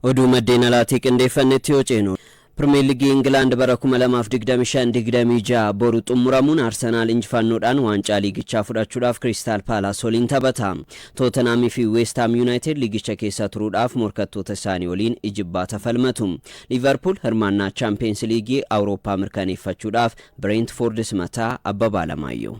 Oduu maddeen alaatii qindeeffannetti yoo ceenu, Pirimeer Ligii Ingilaand bara 2025, 26 boru xummuramuun Arsenaal injifannoodhaan waancaa liigichaa fudhachuudhaaf Kiriistaal Paalaas waliin taphata. Tootenhaam fi Weest Haam Yuunaayitid liigicha keessa turuudhaaf morkattoota isaanii waliin ijibbaata falmatu. Liivarpuul hirmaannaa Chaampiyeens Liigii Awurooppaa mirkaneeffachuudhaaf Bireentfoord simata, Abbabaa Alamaayyoo.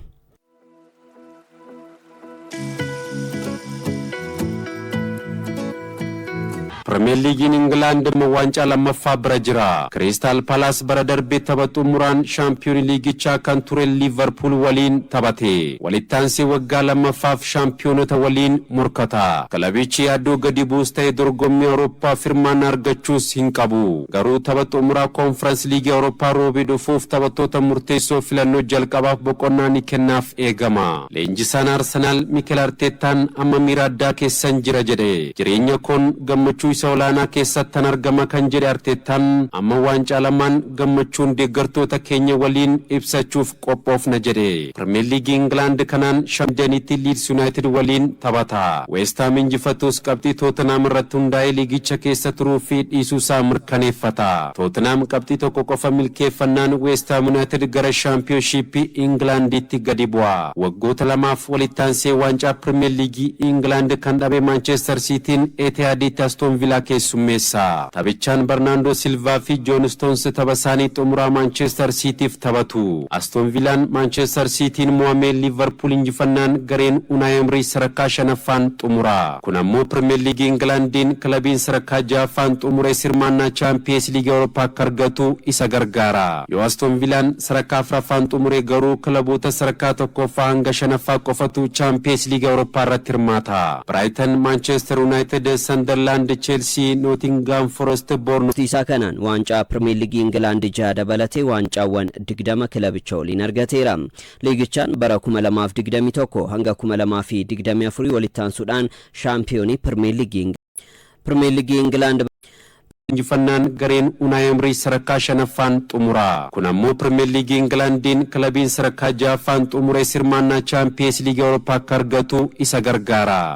Pirimeer Liigiin Ingilaand immoo waancaa lammaffaa bira jira. Kiriistaal Palaas bara darbe tapha xumuraan shaampiyoonii liigichaa kan ture Liivarpuul waliin taphate. Walittaansee waggaa lammaffaaf shaampiyoonota waliin morkata. Kilabichi yaaddoo gadi bu'us ta'e dorgommii Awurooppaaf hirmaannaa argachuus hin qabu. Garuu tapha xumuraa Koonfirans Liigii Awurooppaa Roobii dhufuuf taphattoota murteessoo filannoo jalqabaaf boqonnaa ni kennaaf eegama. Leenjisaan Arsenaal Mikel Arteettaan amma miira addaa keessan jira jedhe. Jireenya koon gammachuu isa olaanaa keessattan argama kan jedhe Arteettaan, amma waancaa lamaan gammachuun deeggartoota keenya waliin ibsachuuf qophoofna jedhe. Pirimeer Liigii Ingilaand kanaan Shamdenitti Liids Yunaayitid waliin taphata. Weesthaam injifatuus qabxii Tootenaam irratti hundaa'ee liigicha keessa turuu fi dhiisuu isaa mirkaneeffata. Tootenaam qabxii tokko qofa milkeeffannaan Weesthaam Yunaayitid gara Shaampiyoonshiippii Ingilaandiitti gadi bu'a. Waggoota lamaaf walitti aansee waancaa Pirimeer Liigii Ingilaand kan dhabe Maanchester Siitiin Etihaadiitti Astoon Vilaa keessummeessa. Taphichaan Barnaandoo Silvaa fi Joon Stoons tapha isaanii xumuraa Maanchester Siitiif taphatu. Aston Vilaan Maanchester Siitiin mo'amee Liivarpuul injifannaan gareen Unaay Emrii sarakkaa shanaffaan xumura. Kun ammoo Pirimeer Liigii Ingilaandiin kilabiin sarakkaa jahaffaan xumurees hirmaannaa Chaampiyees Liigii Awurooppaa akka argatu isa gargaara. Yoo Aston Vilaan sarakkaa afraffaan xumure garuu kilaboota sarakkaa tokkooffaa hanga shanaffaa qofatu Chaampiyees Liigii Awurooppaa irratti hirmaata. Biraayitan, Maanchester Yunaayitid, Sandarlaand, Cheelsii, FC Nootingaam Forest Boornmaawuz. Isaa kanaan waancaa Pirimeer Liigii Ingilaand jaha dabalatee waancaawwan 20 kilabicha waliin argateera. Liigichaan bara 2021 hanga 2024 walitti aansuudhaan shaampiyoonii Pirimeer Liigii Pirimeer Liigii Ingilaand Injifannaan gareen Unaay Emrii sadarkaa shanaffaan xumura. Kun ammoo Pirimeer Liigii Ingilaandiin kilabiin sadarkaa jahaffaan xumures hirmaannaa Chaampiyees Liigii Awurooppaa akka argatu isa gargaara.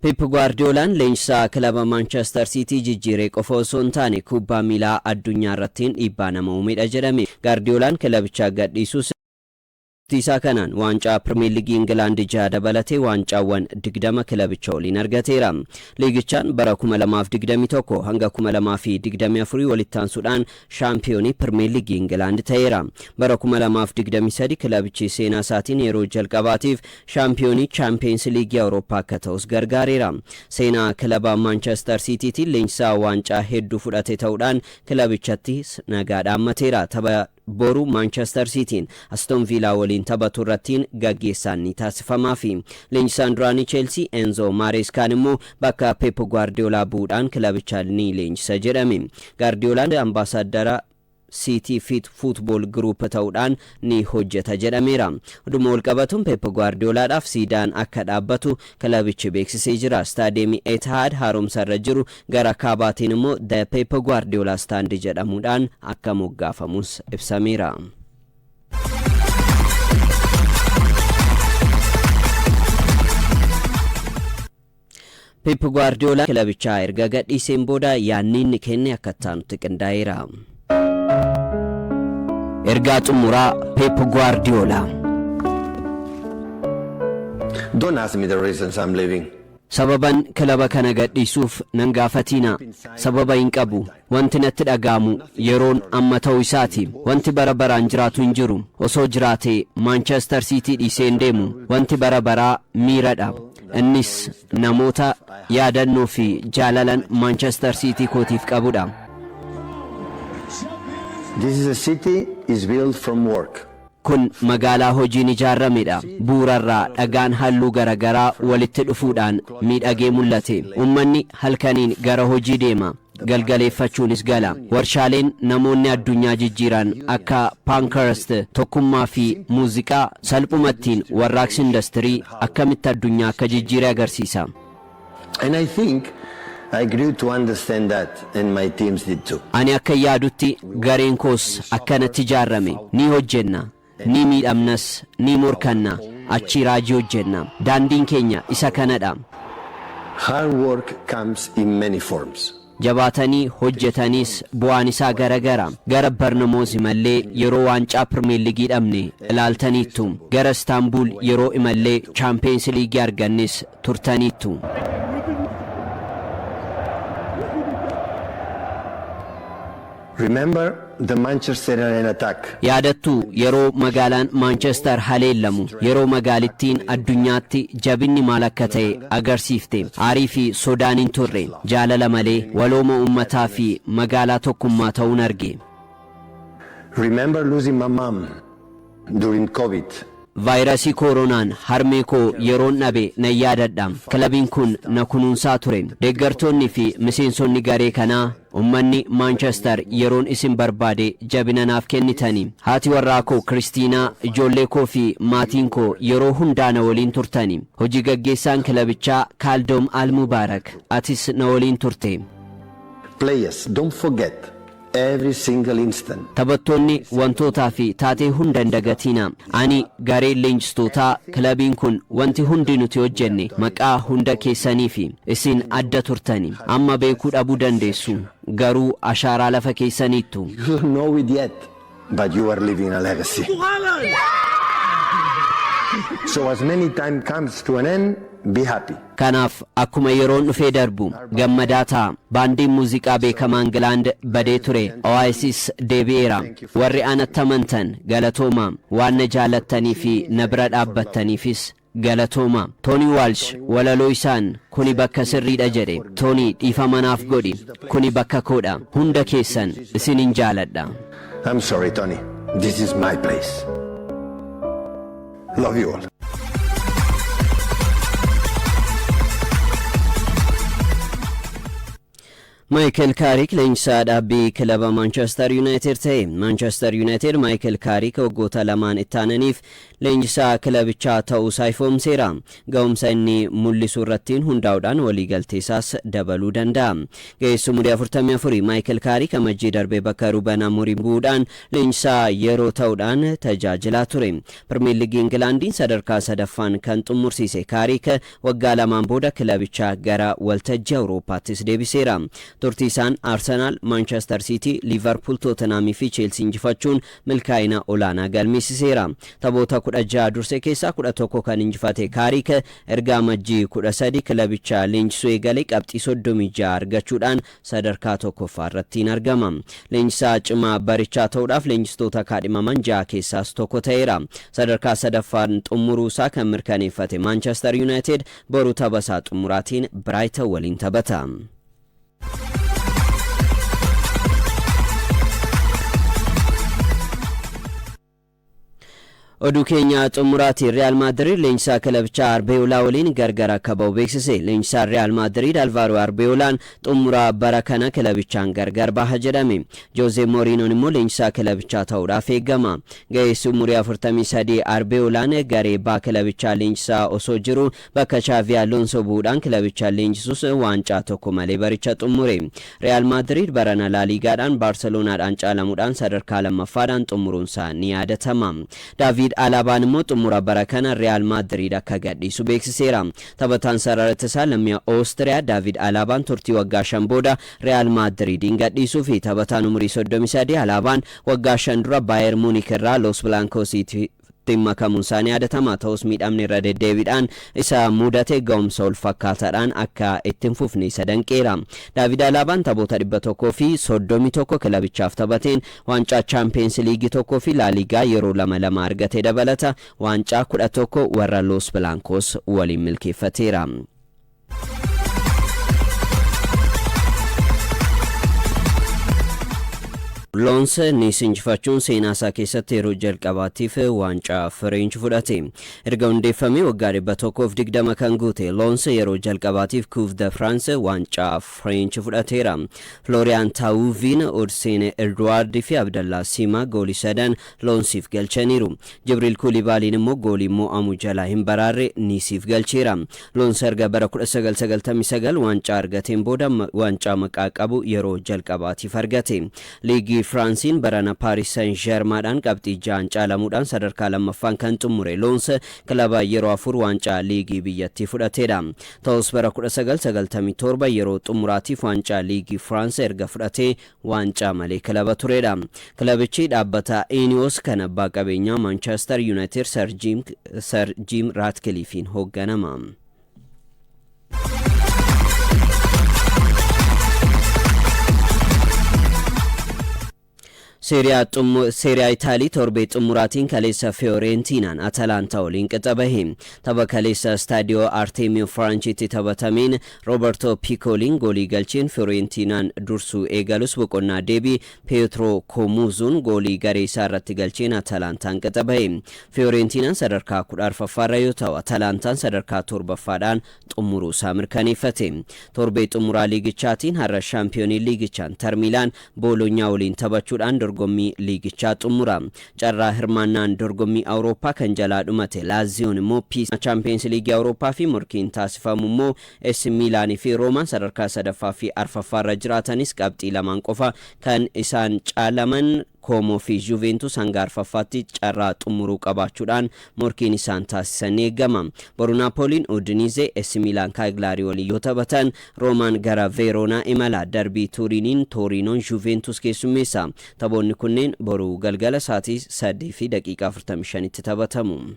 Pep Guardiolaan leenjisaa kilaba Manchester City jijjiiree qofa osoo hin taane kubbaa miilaa addunyaa irrattiin dhiibbaa nama uumedha jedhame. Gaardiyoolaan kilabicha gadhiisuus Turtii isaa kanaan waancaa Pirimeer Liigii Ingilaand jaha dabalatee waancaawwan 20 kilabicha waliin argateera. Liigichaan bara 2021 hanga 2024 walitti aansuudhaan Shaampiyoonii Pirmeer Liigii Ingilaand ta'eera. Bara 2023 kilabichi seenaa isaatiin yeroo jalqabaatiif shaampiyoonii Chaampiyeens Liigii Awurooppaa akka ta'us gargaareera. Seenaa kilaba Maanchester Siitiitiin leenjisaa waancaa hedduu fudhate ta'uudhaan kilabichattis nagaa dhaammateera. Tapha boru Maanchester Siitiin Aston Viilaa waliin taphatu irrattiin gaggeessaan ni taasifamaafi. Leenjisaan duraanii Cheelsii Enzoo Maareeskaan immoo bakka Peep Guardiyoolaa bu'uudhaan kilabicha ni leenjisa jedhame. Gaardiyoolaan Ambaasaaddara Siitii Fit Fuutbool Giruup ta'uudhaan ni hojjeta jedhameera. Oduuma walqabatuun Peep Guwaardiyoolaadhaaf siidaan akka dhaabbatu kilabichi beeksisee jira. Istaadiyeemii Etihaad haaromsarra jiru gara kaabaatiin immoo The Peep Guwaardiyoolaa Stand jedhamuudhaan akka moggaafamus ibsameera. Peep Guwaardiyoolaan kilabichaa erga gadhiiseen booda yaadni inni kenne akka itti aanutti qindaa'eera. Ergaa Xumuraa Peep Guwaardiyoolaa. Don't ask me the reasons I'm leaving. Sababan kilaba kana gadhiisuuf nan gaafatiinaa. Sababa hin qabu. Wanti natti dhaga'amu yeroon amma ta'uu isaati. Wanti bara baraan jiraatu hin jiru. Osoo jiraatee Maanchester Siitii dhiisee hin deemu. Wanti bara baraa miira dha. Innis namoota yaadannoo fi jaalalan Maanchester Siitii kootiif qabu dha. This is a city is built from work. Kun magaalaa hojiin ijaaramedha. Buurarraa dhagaan halluu garagaraa walitti dhufuudhaan miidhagee mul'ate. Ummanni halkaniin gara hojii deema. Galgaleeffachuunis gala. Warshaaleen namoonni addunyaa jijjiiran akka Pankhurst, tokkummaa fi muuziqaa, salphumattiin warraaqsi industirii akkamitti addunyaa akka jijjiire agarsiisa. And I think I grew to understand that and my teams did too. Ani akkan yaadutti gareen koos akkanatti ijaarrame. Ni hojjenna, ni miidhamnas, ni morkanna, achii raajii hojjenna. Daandiin keenya isa kanadha. Hard work comes in many forms. Jabaatanii hojjetanis bu'aan isaa gara gara. Gara Barnamoz imalle yeroo waancaa Pirmeerligii dhabne ilaaltaniittu. Gara Istaanbuul yeroo imalle Chaampiyeens Liigii argannes turtaniittu. Remember the Manchester Arena attack? Yaadattuu, yeroo magaalaan Maanchester haleellamu, yeroo magaalittiin addunyaatti jabinni maal akka ta'e agarsiifte. Aarii fi sodaan hin turre. Jaalala malee, walooma uummataa fi magaalaa tokkummaa ta'uun arge. Remember losing my mom? during covid. Vaayirasii kooronaan harmee koo yeroon dhabe nan yaadadha. Kilabiin kun na kunuunsaa ture. Deeggartoonni fi miseensonni garee kanaa, ummanni Maanchester yeroon isin barbaade jabina naaf kennitani. Haati warraa koo Kiristiinaa, ijoollee koo fi maatiin koo yeroo hundaa na waliin turtani. Hojii gaggeessaan kilabichaa Kaaldoom Al-Mubaarak, atis na waliin turte. Players, don't forget every single instant. Taphattoonni, wantootaa fi taatee hunda hin dagatiina. Ani, gareen leenjistootaa, kilabiin kun, wanti hundi nuti hojjenne maqaa hunda keessaniifi. Isin adda turtani. Amma beekuu dhabuu dandeessu, garuu ashaaraa lafa keessaniittu. You don't know it yet. But you are leaving a legacy. So as many time comes to an end, be happy. Kanaaf, akkuma yeroon dhufee darbu, gammadaa ta'a. Baandiin muuziqaa beekamaa Ingilaand badee ture Oasis deebi'eera. Warri anatti amantan, galatoomaa. Waan na jaallattanii fi na bira dhaabbattaniifis. Galatooma. Tony Walsh walaloo isaan kuni bakka sirriidha jedhe. Tony dhiifama naaf godhi. Kuni bakka koodha. Hunda keessan isinin jaaladha. I'm sorry Tony, this is my place. Love you all. Maayikal Kaarik leenjisaa dhaabbii kilaba Maanchestar Yuunaayitid ta'e. Maanchestar Yuunaayitid Maayikal Kaarik waggoota lamaan ittaananiif leenjisaa kilabichaa ta'uusaa ifoomseera. Ga'umsa inni mul'isu irrattiin hundaa'uudhaan waliigalteesaas dabaluu danda'a. Ga'eessi umurii 44 Maayikal Kaarik Amajjii darbe bakka Ruben Amorim bu'uudhaan leenjisaa yeroo ta'uudhaan tajaajilaa ture. Pirmeer Liigii Ingilaandiin sadarkaa sadaffaan kan xummursiise Kaarik Waggaa lamaan booda kilabicha gara waltajjii Awurooppaattis deebiseera. Turtii isaan Arsenaal, Maanchester Siitii, Liivarpuul, Tootenhaamii fi Cheelsii injifachuun milkaa'ina olaanaa galmeessiseera. Taphoota 16 durse keessaa 11 kan injifate Kaarik, erga Amajjii 13 kilabicha leenjisuu eegalee qabxii 36 argachuudhaan sadarkaa 1ffaa irrattiin argama. Leenjisaa cimaa barichaa ta'uudhaaf leenjistoota kaadhimaman 6 keessaas tokko ta'eera. Sadarkaa 3ffaan xummuruu isaa kan mirkaneeffate Maanchester Yuunaayitid boru tapha isaa xummuraatiin Biraayitan waliin taphata. Oduu keenya xumuraatiin Riyaal Maadiriid leenjisaa kilabichaa Arbeeyoolaa waliin gargar akka ba'u beeksise. Leenjisaan Riyaal Maadiriid Alvaaroo Arbeeyoolaan xumura bara kana kilabichaan gargar baha jedhame. Joozee Moriinoon immoo leenjisaa kilabichaa ta'uudhaaf eegama. Ga'eessi umurii 43 Arbeeyoolaan garee baa kilabichaa leenjisaa osoo jiruu Bakka Chaavii Aloonsoo bu'uudhaan kilabichaan leenjisuus waancaa tokko malee baricha xummure. Riyaal Maadriid barana Laaliigaadhaan Baarseloonaadhaan caalamuudhaan sadarkaa lammaffaadhaan xummuruunsaa ni yaadatama. Daaviid Alaabaan immoo xummura bara kana Riyaal Maadriid akka gadhiisu beeksiseera. Taphataan sarara ittisaa lammii Oostiriyaa Daaviid Alaabaan turtii waggaa shan booda Riyaal Maadriidiin gadhiisuufi. Taphataan umurii soddomii sadii Alaabaan waggaa shan dura Baayer Muunik irraa Loos Bilaankoosiitti tti makamuun isaa ni yaadatama. Ta'us miidhamni irra deddeebiidhaan isa mudate ga'umsa wal fakkaataadhaan akka itti hin fufne isa danqeera. Daavid Alaabaan taphoota 131 kilabichaaf taphateen waancaa Chaampiyeens Liigii tokkoo fi Laaliigaa yeroo lama lama argate dabalata waancaa 11 warra Loos Bilaankoos waliin milkeeffateera. Loons Niis injifachuun seenaa isaa keessatti yeroo jalqabaatiif waancaa Fireench fudhate. Erga hundeeffamee waggaa 120 kan guute Loons yeroo jalqabaatiif Kuuf de Firaansi waancaa Fireench fudhateera. Flooriyaan Taawuviin, Odseen Edwaard fi Abdallaa Siimaa goolii sadan Loonsiif galchaniiru. Jibriil Kuulibaaliin immoo goolii mo'amu jalaa hin baraarre Niisiif galcheera. Loons erga bara 1999 waancaa argateen booda waancaa maqaa qabu yeroo jalqabaatiif argate. Liigii Firaansiin barana Paaris Sen Jermaadhaan qabxii ja'aan caalamuudhaan sadarkaa lammaffaan kan xummure Loons kilaba yeroo afur waancaa liigii biyyattii fudhateedha. Ta'us bara 1997 yeroo xummuraatiif waancaa liigii Firaans erga fudhatee waancaa malee kilaba turedha. Kilabichi dhaabbata Ineos kan abbaa qabeenyaa Maanchester Yuunaayitid Sar Jiim Sar Jiim Raatkiliifiin hoogganama. Seeriyaa xummu- Seeriyaa Itaalii torbee xumuraatiin kaleessa Fiyooreentinaan Atalaantaa waliin qixa bahe. Tapha kaleessa Istaadiyoo Arteemiyoo Firaanchiitti taphatameen Roobertoo Piikooliin goolii galcheen Fiyooreentinaan dursuu eegalus boqonnaa deebii Peetroo Koomuuzuun goolii garee isaa irratti galcheen Atalaantaan qixa bahe. Fiyooreentinaan sadarkaa kudha arfaffaarra yoo ta'u, Atalaantaan sadarkaa torbaffaadhaan xumuruu isaa mirkaneeffate. Torbee xumuraa liigichaatiin har'a shaampiyooniin liigichaa Intar Miilaan Booloonyaa waliin taphachuudhaan dorgommii liigichaa xummura. Carraa hirmaannaan dorgommii Awurooppaa kan jalaa dhumate Laaziyoon immoo Piisa Chaampiyeens Liigii Awurooppaa fi morkiin taasifamu immoo Eesi Miilaan fi Roomaan sadarkaa sadaffaa fi arfaffaa irra jiraatanis qabxii lamaan qofa kan isaan caalaman Koomoo fi Juuveentus hanga arfaffaatti carraa xummuruu qabaachuudhaan morkiin isaan taasisan ni eegama. Boru Naapooliin Udiniizee, Essi Miilaan Kaaglaarii waliin yoo taphatan, Roomaan gara Veeroonaa imala. Darbii Tuuriiniin Tooriinoon Juuveentuus keessummeessa. Taphoonni kunneen boru galgala sa'aatii 3:45tti taphatamu.